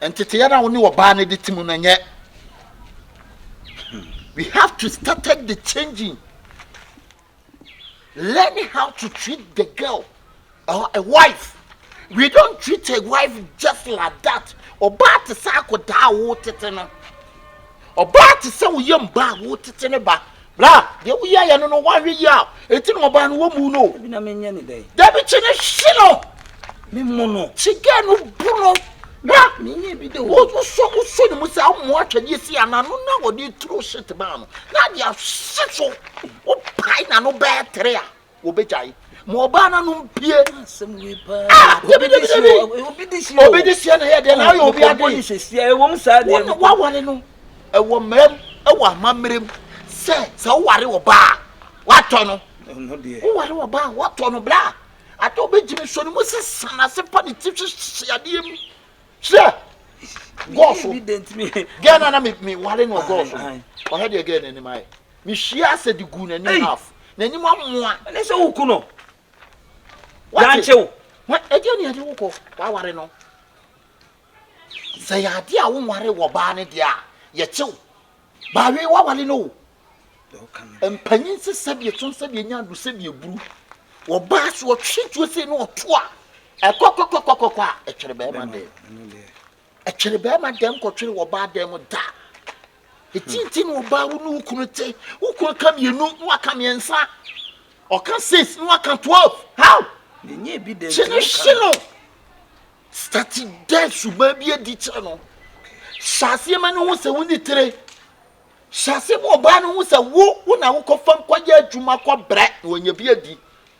Nteteeɛ no a wo ne ɔbaa no de te mu no nyɛ. We have to started the changing. Learn how to treat the girl or a wife. We don't treat a wife just like that. Ɔbaa te sɛ akɔdaa a wotete no. Ɔbaa te sɛ wo yam ba a woretete ne ba. Bra, deɛ woyɛeɛ no no, woanhwɛ yie a, enti na ɔbaa no wɔmmu no o. Dabi na menyɛ ne dɛn? Dabi kye no hye no. Memmo no. Kye gɛɛ no bu no. Bra. Menyɛ bi da o. Wosɔ wosɔ ne mu saa mmoa atwadeɛ si anaa no na wɔde turo hyet baa no na de ahye so wopae na no bɛɛ tere a. wɔbɛgyae ma ɔbaa no anom pie ah, ah, obi de sie obi de sie na ɛyɛ deɛ na ah, ayɛ obi ade waware no ɛwɔ mmerɛm ɛwɔ amammerɛm sɛ sɛ woware ɔbaa watɔ no woware ɔbaa watɔ no bla ade wobɛgyimi sɔ no mu sɛ sanase pa ne ti hwehye adeɛ mu hyɛ gɔɔso gɛɛ no na meware no ɔgɔɔso ɔhɛ deɛ gɛɛ no anim ayɛ Me hwie asɛ de guu n'anim Ei! half. N'anim amoa. Ɛne sɛ wo ku no. Wate? Yɛankye wo. Hwɛ, ɛdeɛn na yɛde wo kɔ? W'aware no, sɛ ɛyɛ adeɛ a wonware wɔ baa no deɛ a, yɛkye wo. Baawe, w'aware no o. Deɛ woka no deɛ. Mpanyin se sɛdeɛ ɛtɔn sɛdeɛ ɛnya adu sɛdeɛ ɛburu. Wɔ baa so, ɔtwe tuo sei na ɔto a, ɛkɔkɔkɔkɔkɔkɔ a, ɛtwere bɛrima Bɛrima dɛn? no, ɛno deɛ. Ɛtwere bɛrima dɛm kɔtwere wɔ ɔbaa dɛm da. Eti nti na ɔbaa wo ne wo kunu te. Wo kunu ka mmienu na waka mmiɛnsa. Ɔka six na waka twelve. How? Nenye ebi dɛ nti woka no. Stati dɛ suban bi adi kyerɛ no. Hyɛ aseɛ ma no ho sɛ wo ne tire. Hyɛ aseɛ ma ɔbaa no ho sɛ wo wo na wokɔ fam kɔyɛ adwuma kɔbrɛ na wanya bi adi.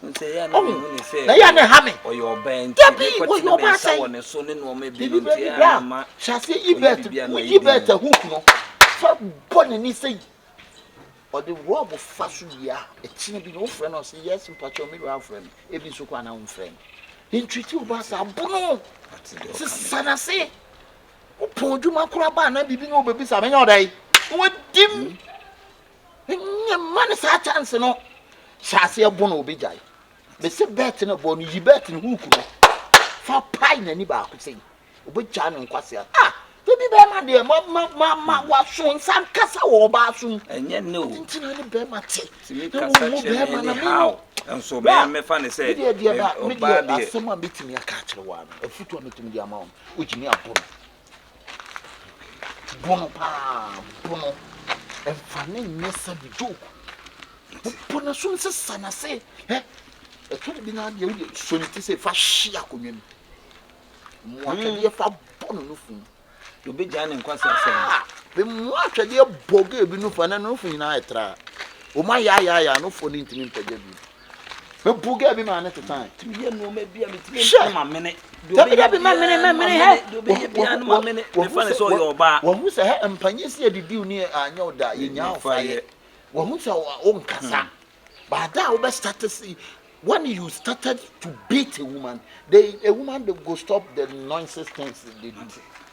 Ohu, na yɛ na ɛha me. Dabi, wɔyɛ ɔba asɛn. Bibi bɛ bi bra, hyɛ ase Ibert, wo Ibert ahu kunu. Fa bɔ n'ani sɛ yi. Ɔde rɔb fa so wie a, ɛkyina bi na wofrɛ no ɔse, yes, mpakyɛw me wura afrɛ me. Ebi nso kɔ anaa womfrɛ no. Ntwiti ɔba asɛn, abono, sesa n'ase. Wopɔn adwuma koraa baa na bibi na ɔbɛbisa, menya ɔda yi? Na wadim. Nye mma no saa chance no. Hyɛ aseɛ bo na ɔbɛgyae. Mese bɛt no bɔ no yi bɛt no hook no fa pae n'ani baako sɛ yi. Ɔbɛgyae no nkwasea. Ah! Ebi bɛrima deɛ ma ma ma ma hmm. waso nsa nkasa wɔ ɔbaa so mu. Ɛnyɛ ne o. Ntina ne bɛrima te. Tumi kasa kyerɛ me ne how. Nso me mefa ne sɛ ɔbaa deɛ. Asɛm a mɛtumi aka akyerɛ wa no afutuo a mɛtumi de ama wɔn. Ɔgyimi abo no. Bo no paa, bo no. Ɛmfa ne nyɛ sɛde joke. Bɔ n'aso no sɛ sa n'ase. Ɛ ɛtɔ da bi na adeɛ wode sɔ ne ti sɛ fa hye akonnwa mu. Mmoa twɛdeɛ fa bɔ no nufu. Obɛgyaa ne nkwa sɛ sɛ. Ah! Mmoa twɛdeɛ bɔ gay bi nufu a na ne nufu nyinaa ɛtra. Wɔn ayaayaaya nufoɔ no ntumi mpagya bi. Hwɛ! Wahu sɛ hɛ mpanyɛ si adidi ni anyɛ wo da yɛ nyaa ɔfa yɛ. Wahu sɛ wo nkasa. But da a wobɛ start si when you started to beat a woman, the a woman go stop the nonsense things they do.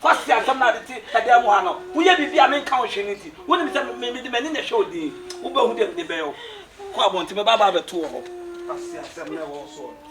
Kwasi asɛm no a ade te ɛdan mu ha no, woyɛ biribi a menka ho hwee no nti, wonim sɛ me mede m'ani na ɛhwɛ wo din. Wobɛhu deɛ mede bɛyɛ wo. Kɔ abɔnten, mɛba aba abɛto wɔ hɔ. Kwasi asɛm no a ɛwɔ wo soɔ no.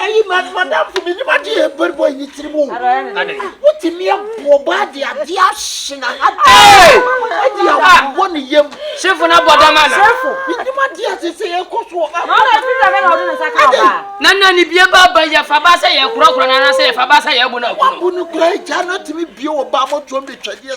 ayi mat madamfo menim agye yɛ bɛri bɔ ne tiri mu wotumi aboɔ bɔ ade ade ahye na ha ɛde abobɔ ne yam sefo na bɔ dama na menim ade ase sɛ yɛkɔ so na na ne bie ba ba yɛfa ba sɛ yɛkorɔkorɔ no anasɛ yɛfa ba sɛ yɛbo no abu no kora agya no atumi bie wɔ ba mɔtoɔ mbɛtwadeɛ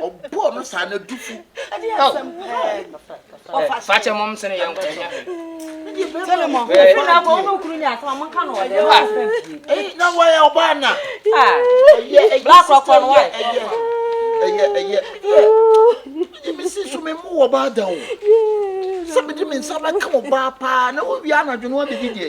ɔbɔɔ no saa na du fu fakyɛ mom sene yɛ nkɔnya na wɔyɛ ɔbaa na blakrɔkɔ no wa ɛyɛ ɛyɛ ɛyɛ mesi so me mu wɔ baa da o sɛ mede me nsa bɛka ɔbaa paa na wowie anadwo no abɛdi deɛ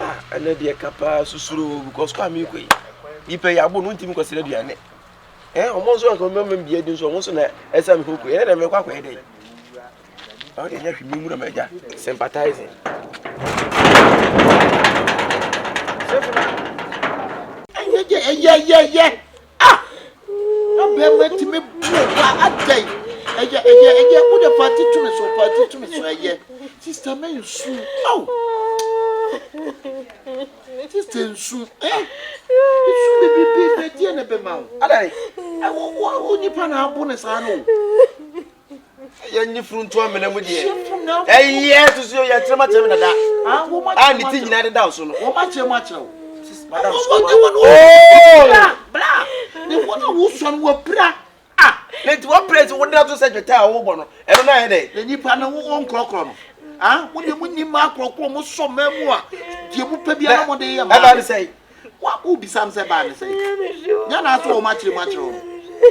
Ah ɛnɛ deɛ ka paa susuro o because kɔ a mekɔ yi nipa yi abo no ntumi nkɔsrɛ aduane ɛ eh, ɔmo nso anka ɔmo mɛma bia di nso ɔmo nso na ɛsɛ mi koko ɛnɛ na mɛkɔ akɔyɛ dɛ ɔmo deɛ nyɛ hwɛ mi mu na mɛgya sympathizing. ɛyɛ yɛ ɛyɛ yɛ yɛ. Ah! Na bɛrima tumi bu wa adɛn? Ɛyɛ ɛyɛ ɛyɛ wo de paati tumi so paati tumi so ɛyɛ. Sista mɛ nsu. Aw! Sista nsu. Eh! Nsu bebrebe na ɛdeɛ na ɛbɛma wo. Adɛn? Ɛwɔ wɔ wɔ nipa na abo ne saa no. ɛyɛ nye funu nto amena mu deɛ ɛyɛ susu yɛ yɛkyerɛ mu akyerɛ mu dada a ne ti nyinaa deda so no. wɔn akyerɛ mu akyerɛ wo. madam sukuu wɔn wɔn wɔn bla bla ne wɔn na wosɔ no wɔ pira a. ne ti wɔ pira ti wɔn de ato sɛ dwetɛ a wɔbɔ no ɛno na yɛ dɛ. na nipa no wɔn nkorɔkorɔ no ah wɔn na wɔn ni mmaa korɔkorɔ wɔn sɔ mmaa mu a deɛ mo pɛ bi ara wɔn de yɛ mmaa. ɛbaa ne sɛ. Wa wo bisa me sɛ baa ne sɛn? Nyɛ na ato wɔn akyerɛ mu akyerɛ wɔn.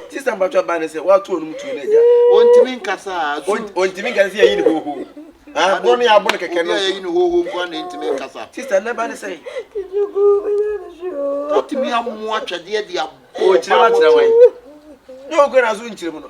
Sista mpatwa baa ne sɛ wato wɔn mu tuo no agya. Ontimi nkasa a su. Ontimi nkasa sɛ yɛyi ne hoho. Aboɔ no yɛ abo no kɛkɛ no. Obi a yɛyi ne hoho nko a na entimi nkasa. Sista nnɛ baa ne sɛn? Otumi amoa twɛdeɛ de abɔ ɔbaa bɔtɔ. Ɔkyerɛ ma kyerɛ wɔn. Nyɛ ɔkura na so nkyerɛ mu no.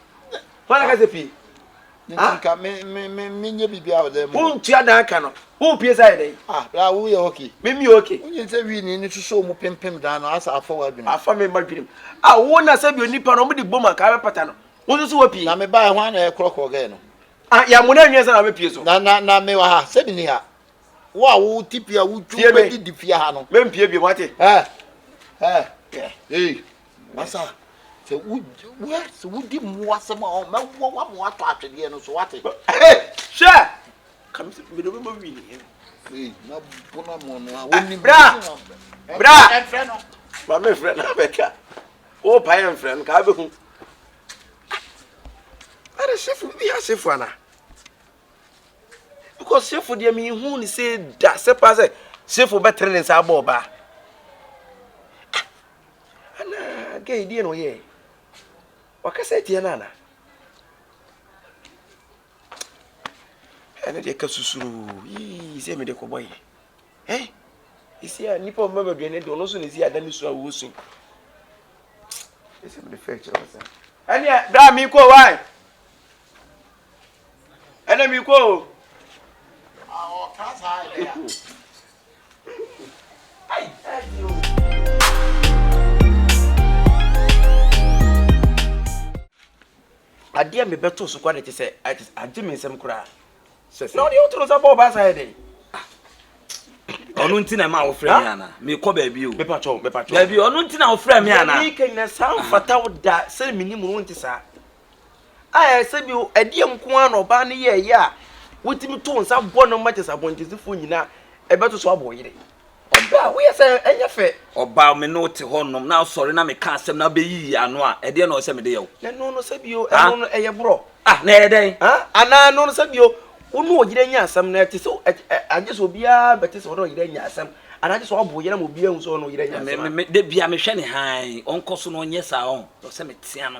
hwan aka sɛ pie nti nka me me me me nye bibi a ɔda mu. Wo ntua dan ka no. Wo pie sa yɛ dɛn. Ah bra wo yɛ okay. Me mi okay. Wo nye sɛ wii ni ni soso mu pimpim dan no asa afa wa dwenem. Afa me ma dwenem. Ah wo na sɛ bi onipa no ɔmo de bom anka abɛ pata no. Wo nso so wa pie. Na me ba yɛ hwan na yɛ korɔ korɔ gɛ no. Ah yɛ mo na nwi ansa na wabɛ pie so. Na na na me wa ha sɛ bi ni ha. Wo a wo ti pie a wo twu bɛ di di pie ha no. Me mpie bi mo ate. Eh eh eh. What's up? sɛ wura sɛ wodi mmoa asɛm a ɔmɛboa wa ma watɔ atwedeɛ no so wate hwɛ kamsi mede bɛbɔ wi ne yɛn na bona mo no a wonni bra bra ɛmfrɛ no ma me mfrɛ no abɛka wo pa yɛ mfrɛ no ka abɛhu ɛde sefo bi asefo ana because sefo deɛ mehu ne sɛ da sɛ paa sɛ sefo bɛtere ne nsa abɔ ɔbaa ana gay deɛ na ɔyɛ wakasa atia no ana ɛne deɛ ka susuru yii sɛ mede kɔbɔ yɛ eh ɛsi a nnipa ɔma baduane deɛ ɔno nso na ɛsi ada ne su a wɔwɔ su ɛsɛ mede fɛ kyerɛ wɔ saa ɛneɛ berɛ a mekɔ wae ɛna mi kɔ o. ɔka saa ɛdɛ a. ayi ɛdi o. adeɛ mi bɛ to so kɔ de te sɛ agye mi nsɛm koraa na ɔde ɔtoro nsa bɔ ɔbaa saa yɛ dɛ. ɔno nti na ɛma wofrɛ mi ana mekɔ baabi o baabi ɔno nti na wofrɛ mi ana. yɛ mi kɛ nyina saa nfata da sɛ mi ni mu no nti saa. a ɛyɛ sɛ bi ɛdeɛ nko ara na ɔbaa no yɛ ɛyɛ a wotumi to nsa bɔ no ma kyɛ sɛ abɔntensifoɔ nyinaa ɛbɛto so abɔ yere ɔbaa woyɛ sɛ ɛnyɛ fɛ ɔbaa me ne wote hɔ nom na asɔre na meka asɛm na bɛyiyi ano a ɛdeɛ na ɔsɛ mede yɛ wo ɛno no sɛ bio ɛno no ɛyɛ borɔ ah na ɛyɛ dɛn anaa ɛno no sɛ bio wo ne ɔyere nya asɛm na ɛte sɛ agye sɛ obiara bɛte sɛ ɔne ɔyere nya asɛm anaa agye sɛ ɔbo yere ma obiara hu sɛ ɔne ɔyere nya asɛm da bia mehwɛ ne han ɔnkɔ so na ɔnyɛ saa ɔn ɔsɛ metea no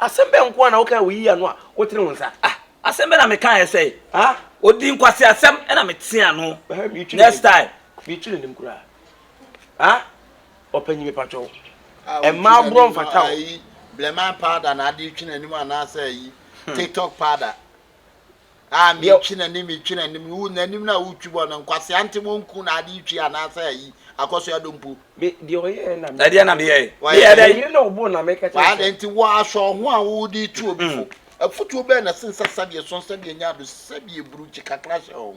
Asɛm bɛn nko ara na wokae a woyii ano a wotenee wo nsa? Ah, asɛm bɛn na mekaeɛ sɛe? Ah, ɔdii nkwaseasɛm na meteaa ano. Ɛhɛm, meretwi Next n'anim. time. Meretwi n'anim koraa. Ah, ɔpanyin mepakyɛ wo, Ah, wotwi mmaa borɔ n'anim no, mfata wo. ayi, Blemain powder na ade retwi n'anim anaasɛ ayi, TikTok powder. a metwi n'anim metwi n'anim no wo n'anim no a wotwi bɔ no nkwasea nte mu nku na ade twi anaasɛ ayi akɔso ado mpo. Me deɛ ɔyɛɛ na me. Ɛdeɛ na me yɛɛ. Meyɛ dɛ. Yere na ɔbɔ na me kɛtɛ. Waa dɛ nti wɔ ahyɛ ɔho a wode tu obi fo. Afutuo bɛɛ na ɛsen sɛ sɛdeɛ sɔn sɛdeɛ nya ado sɛdeɛ buru kyi kakra hyɛ ɔho.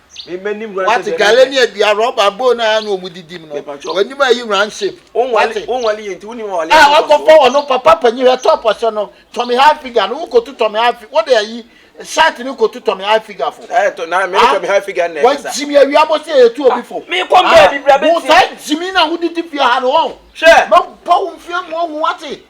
wate gale ne adua rɔba bowl no a na wɔn didi mu no wɔnim ayi round shape wate a wakɔfa wɔn no papa panyin hɛ top ɔhyɛ no tɔmi high figure no wokotu tɔmi high figure wɔde ayi shirt no kotu tɔmi high figure fo wɔn jimi awia mo se etu obi fo wò saa jimi na wò didi fia ha no wɔn mɛ bɔ wɔn fia mu ohun wate.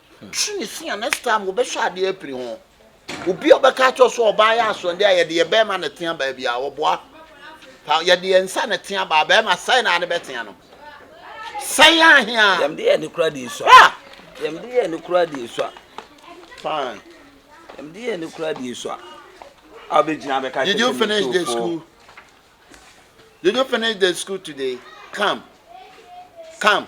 Twe ne se a next time wobɛhwɛ adeɛ apiri ho. Obi a ɔbɛka akyerɛ wo sɛ ɔbaa yɛ asoɔden a yɛde yɛ bɛrima na ɛtea baabi a ɔboa. Pa yɛde yɛn nsa na ɛtea baa bɛrima sɛe na ade bɛtea no. Sɛe ahea. Yɛm de yɛ ne kura de esua. Ah! Yɛm de yɛ ne kura de esua. Fine. Yɛm de yɛ ne kura de esua. I'll be gyina bɛka Did you finish the school? Did you finish the school today? Come. Come.